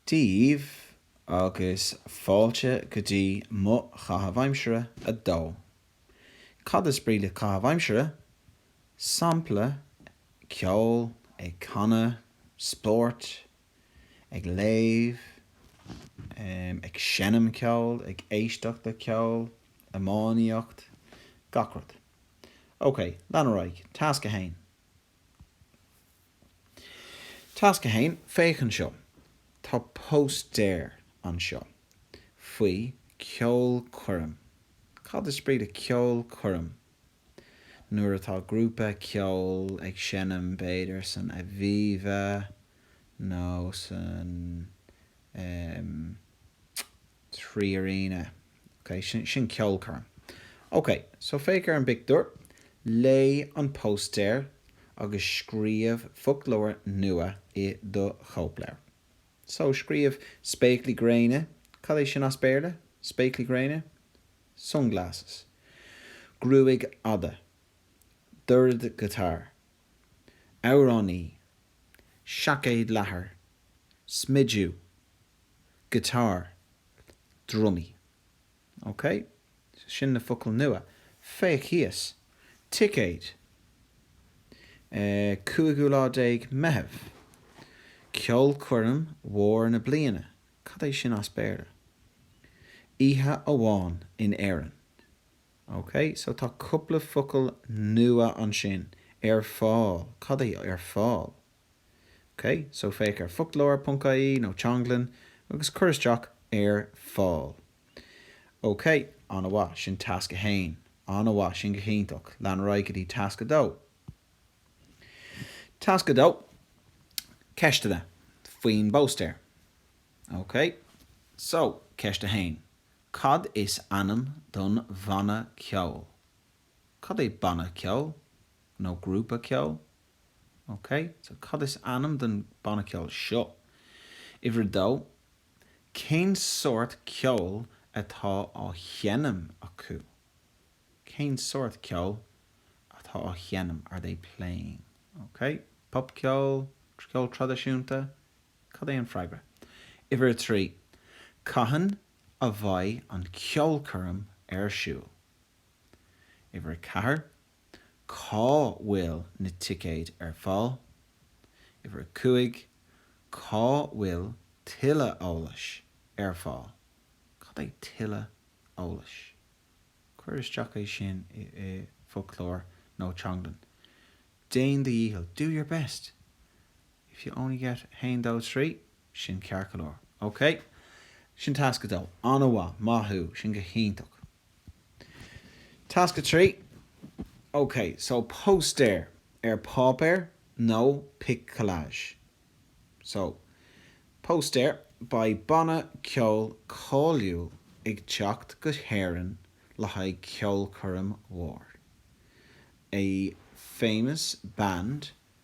daoibh agus fáilte go dtí mo chaitheamh aimsire a 2. Cad is brí le caitheamh aimsire? Sampla, ceol, ag canadh, spórt, ag léamh, em, ag seinm ceoil, ag éisteacht le ceol, iománaíocht, gach rud. Ok, lean ar aghaidh. Tasc a 1. Tasc a 1, Féach anseo. Tá póstaer anseo faoi cheolchoirm. Cad is brí le ceolchoirm? Nuair atá grúpa ceoil ag seinm, b'fhéidir san Aviva nó san, em, 3Arena, Ok, sin, sin ceolchoirm. Ok, so féach ar an bpictiúr, léigh an póstaer agus scríobh foclóir nua i do chóipleabhar. So, scríobh spéaclaí gréine, cad é sin as Béarla? Spéaclaí gréine? Sunglasses. Gruaig fhada. Dordghiotár. Amhránaí. Seaicéad leathair. Smidiú. giotár, drumaí. Ok? Sin na focail nua. Féach thíos. Ticéad. Eh, cúigiú lá déag Meitheamh. Ceolchoirm mhór na bliana. Cad é sin as Béarla? Oíche amháin in Éirinn. Ok, so tá cúpla focal nua ansin, ar fáil. Cad é ar fáil? OK, so féach ar foclóir.ie nó Teanglann agus cuir isteach 'ar fáil'. OK, an-mhaith, sin tasc a haon. An-mhaith, sin go hiontach. Lean ar aghaidh go dtí tasc a dó. Tasc a dó, ceisteanna faoin bpóstaer. OK, so, ceist a haon, cad is ainm don bhanna ceoil? Cad é banna ceoil? Nó grúpa ceoil? OK, so cad is ainm don banna ceoil seo? Uimhir a dó, cén sórt ceoil atá á dhéanamh acu? Cén sórt ceoil atá á sheinm? Are they playing? OK, popcheol, ceol traidisiúnta, cad é an freagra? Uimhir a trí, cathain a bheidh an ceolchoirm ar siúl? Uimhir a ceathair, Cá bhfuil na ticéid ar fáil? Uimhir 5, Cá bhfuil tuilleadh eolais ar fáil? Cad é tuilleadh eolais? Cuir isteach é sin i bhfoclóir nó teanglann. Déan do dhícheall, do your best! If you only get haon dó trí, sin ceart go leor. OK? Sin tasc a dó. An-mhaith. Maith thú. Sin go hiontach. Tasc 3, OK, so póstaer ar pháipéar nó pic collage? So, póstaer, beidh banna ceoil cáiliúil ag teacht go hÉirinn le haghaidh ceolchoirm mhór. A famous band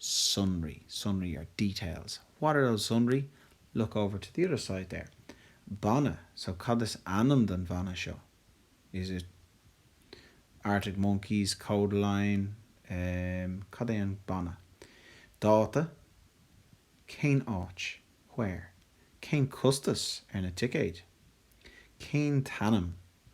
sonraí, sonraí are details, what are those sonraí? look over to the other side there banna, so cad is ainm don bhanna seo? is it Arctic Monkeys, Kodaline, em cad é an banna? dáta, cén áit? where? cén costas ar na ticéid? cén t-am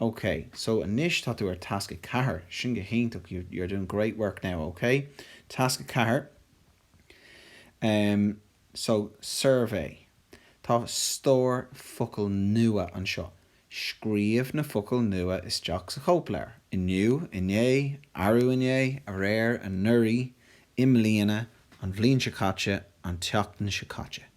OK, so anois tá tú ar tasc a ceathair, sin go hiontach, you, you're doing great work now, OK. Tasc a ceathair, em, so, suirbhé. Tá stór focal nua anseo. Scríobh na focail nua isteach sa chóipleabhar, inniu, inné, arú inné, aréir, anuraidh, i mbliana, an bhliain seo caite, an tseachtain seo caite.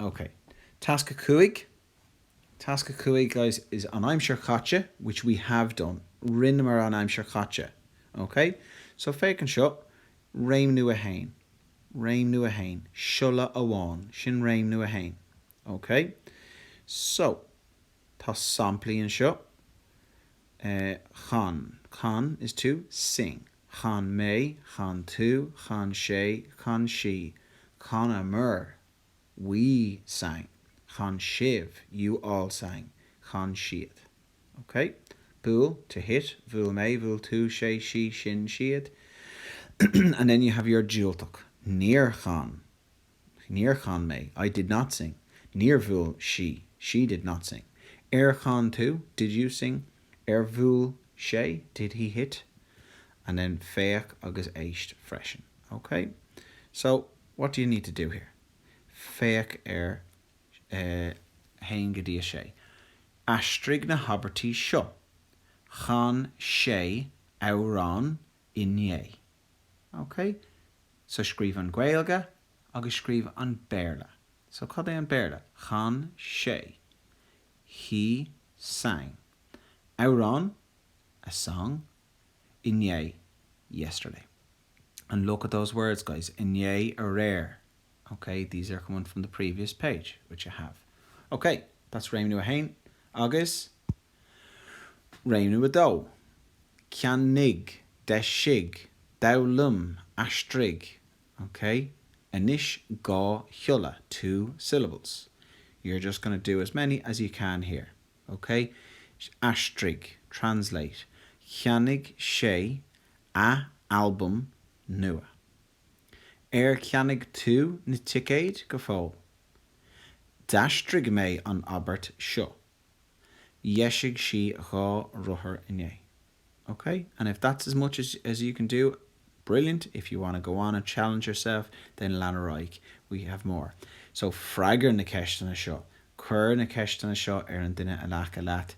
OK. Tasc 5. Tasc 5, guys, is an aimsir chaite, which we have done. Rinneamar an aimsir chaite. OK? So, féach anseo. Réimniú 1. Réimniú 1. Siolla amháin. Sin réimniú 1. OK? So, tá samplaí anseo. Eh, chan. Chan is to sing. chan mé, chan tú, chan sé, chan sí, chanamar, we sang, chan sibh, you all sang, chan siad. Ok? Buail, to hit, bhuail mé, bhuail tú, sé, sí, sinn, siad, and then you have your diúltach, níor chan. Níor chan mé. I did not sing. Níor bhuail sí. She did not sing. Ar chan tú? Did you sing? Ar bhuail sé? Did he hit? And then féach agus éist freisin. OK? So, what do you need to do here? Féach ar 1 go dtí 6. Aistrigh na habairtí seo. Chan sé amhrán inné. OK? So scríobh an Ghaeilge agus scríobh an Béarla. So cad é an Béarla? Chan sé. He sang. Amhrán, a song, inné, yesterday. And look at those words, guys, inné, aréir. OK? These are coming from the previous page, which you have. OK, that's réimniú a haon. Agus Réimniú 2, Ceannaigh, Deisigh, Foghlaim, Aistrigh, OK. Anois dhá shiolla, two syllables. You're just going to do as many as you can here, OK. Aistrigh, translate, Cheannaigh sé, a, albam nua. Ar cheannaigh tú na ticéid go fóill? D'aistrigh mé an abairt seo. Dheisigh sí dhá rothar inné. Ok, and if that's as much as you can do, brilliant, if you want to go on and challenge yourself, then lean ar aghaidh, we have more. So freagair na ceisteanna seo, cuir na ceisteanna seo ar an duine in aice leat,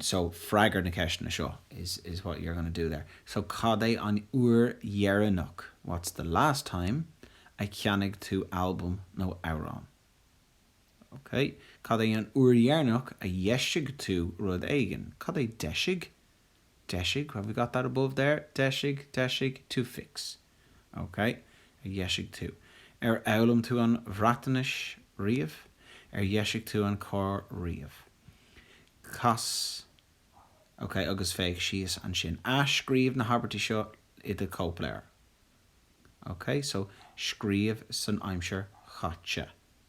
so freagair na ceisteanna seo is what you're going to do there. So cad é an uair dheireanach, what's the last time, a cheannaigh tú albam nó amhrán? OK. Cad é an uair dheireanach a dheisigh tú rud éigin? Cad é deisigh? Deisigh, have we got that above there? Deisigh, deisigh, to fix. OK. a dheisigh tú. Ar fhoghlaim tú an Bhreatainis riamh? Ar dheisigh tú an carr riamh? Cas OK agus féach síos ansin. Athscríobh na habairtí seo i do chóipleabhar. OK. So, scríobh san aimsir chaite.